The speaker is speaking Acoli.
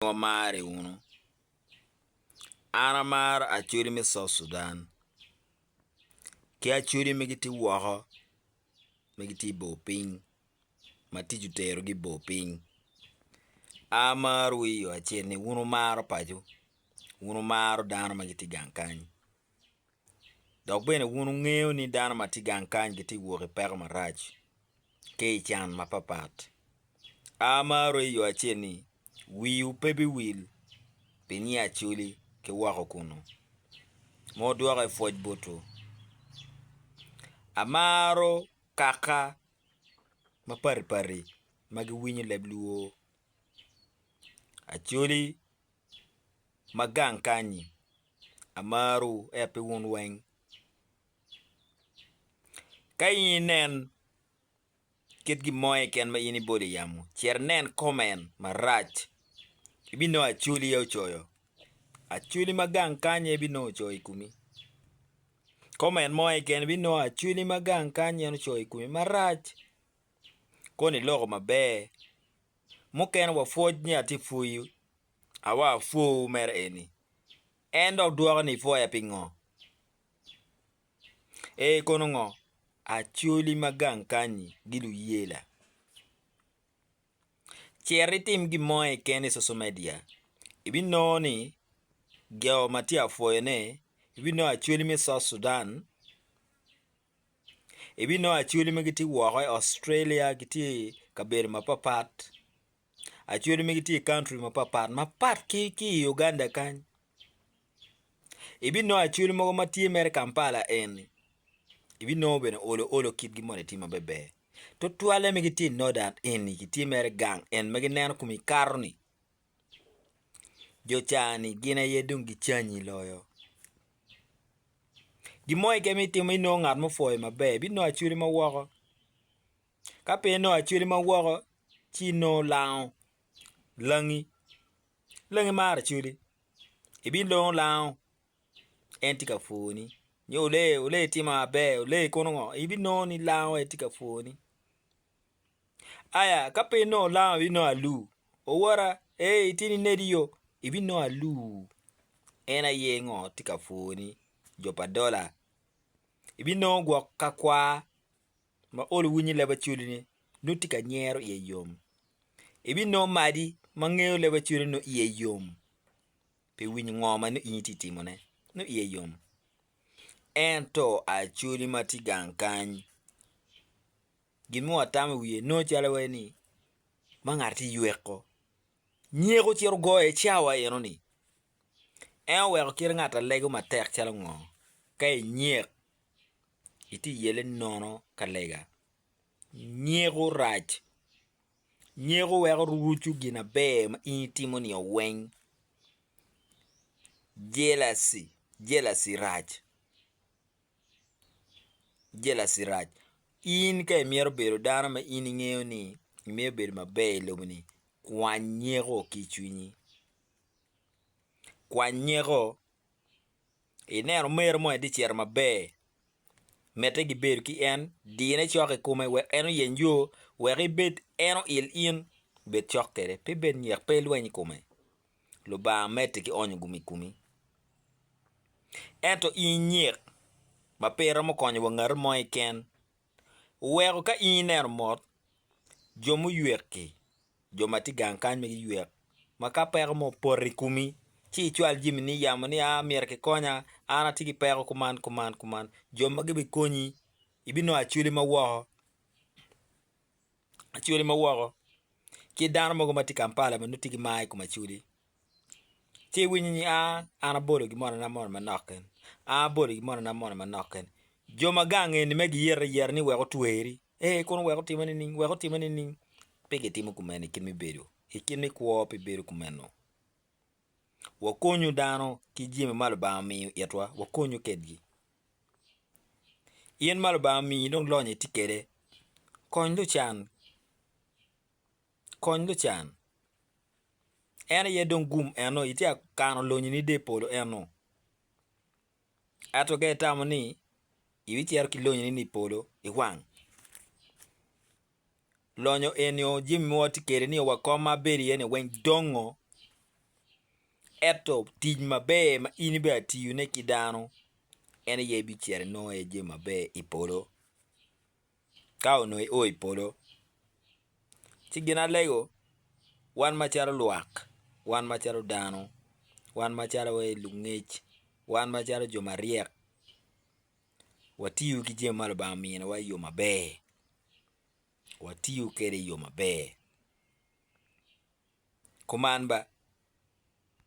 wamare wunu. An amaro Acholi me South Sudan ki Acholi ma gitye woko ma gitye i bor piny ma tic oterogi i bor piny. Amarowu i yo acel ni wun wumaro paco, wun wumaro dano ma gitye gang kany. Dok bene wun wungeyo ni dano ma tye gang kany gitye ka wok i peko marac ki i can mapapat. Amaro i yo acel ni wiwu pe biwil pi nyiya acoli ki woko kunu, ma odwoke pwoc botwu. Amaro kaka mapatpat ma giwinyo leb lwor acoli. ma gang kany-nyi, amaro ento pi wun weng. Ka in inen kit gin mo keken ma in ibolo i yamo, cit inen comment marac, ibinongo acwli aye ocoyo, acwli ma gang kany aye ibinongo ocoyo i komi, comment mo keken ibinongo acwli ma gang kany en ocoyo i komi marac, kono iloko maber mukene wapwoc ni atye pwoyu, awa apwowu mere eni. En dok dwoke ni ipwoya pingo? Ee kono ngo? Acoli ma gang kanyi giluyela. Cit itim gin mo keken i social media ibinongo ni jo ma tye apwoyone ibinongo acoli me South Sudan. ibinongo acholi ma gitye woko i Australia gitye i kabedo mapat pat acholi ma gitye i kauntry mapat pat mapat ki i Uganda kany ibinongo acholi mogo ma tye mere i Kampala eni ibinongo bene olo olo kitgi moni tye ma beber tutwalle ma gitye i northern eni gitye mere gang en ma gineno kome kato-ni. jo cani gin aye dong gicanyi loyo gin mo keken ma itimo inongo ngat mo opwoyi maber binongo acwali ma woko ka pe inongo acwali ma woko ci inongo lango langi, langi maro acwali ibinongo lango en tye ka pwoni nyo olee olee itimo maber olee kono ngo ibinongo ni lango aye tye ka pwoni. Aya, ka pe inongo lam abinongo aluu. Owora, ee ityen inedi yo, ibinongo aluu. En aye ngo tye ka pwoni, jo pa dola. Ibinongo gwok ka kwaa ma olo winyi leb acwali ne nongo tye ka nyero iye yom. Ibinongo madi ma ngeyo leb acwali nongo iye yom pi winyo ngo ma nongo in itye ka timo ne, nongo iye yom. Ento acwali ma tye gang kany. Gin mo atamo i wiye nongo calo iwaci ni ma ngat tye yweko. Nyeko ocito ogoyo i cawa enoni. En oweko kite ngat alego matek calo ngo ka inyek itye iyele nono ka lega. Nyeko rac, nyeko weko rucu gin aber ma in itimo ni o weng. Jealousy, jealousy rac. Jealousy rac, in ka imito bedo dano ma in ingeyo ni imito bedo maber i lobo ni kwany nyeko ki i cwinyi, kwany nyeko ineno meru mo tye ka cito maber mite gibedo ki en dine cok i kome wek en oyeng yo wek ibed en oil in bed cok kwede pe bed nyek pe ilweny i kome. Lubanga medde ki onyo gum i komi. Ento in inyik ma pe iromo konyo wa ngati mo keken, weko ka in ineno mot, jo muywek-ki, jo ma tye i gang kany ma giywek, ma ka peko mo opoto i komi, ci icwal jami ni yamo ni aa myero kikonya, an atye ki peko kuman kuman kuman, jo magi bikonyi, ibinongo acwali ma woko. Acholi ma woko ki dano mogo ma tye i Kampala ma nongo tye ki mar i kom Acholi ci iwinyo ni an abolo gimonona moni manok kene an abolo gimonona moni manok kene jo ma gang eni ma giyero ayera ni wek otweri ee kono wek otime nining wek otime nining pe gitimo kumeno i kit me bedo i kit me kwo pe bedo kumeno wakonyu dano ki jami ma Lubanga omiyo itwa wakonyu kwedgi. In ma Lubanga omiyi dong lonyo itye kwede, kony lucan, kony lucan. En aye dong gum eno itye ka kano lonyini dye polo eno. Ento ka itamo ni ibicito ki lonyini ni i polo iwang. lonyo enio jami ma watye kede nio wa kom ma abedo iye ni weng dongo eto tic maber ma in ibeda tiyo ne ki dano en aye bicito inongo iye jami maber i polo ka onongo i o i polo ci gin alego wan macalo lwak wan macalo dano wan macalo lungec wan macalo jo maryek watiyo ki jami ma Lubanga ominiwa i yo maber, watiyo kwede i yo maber kuman ba.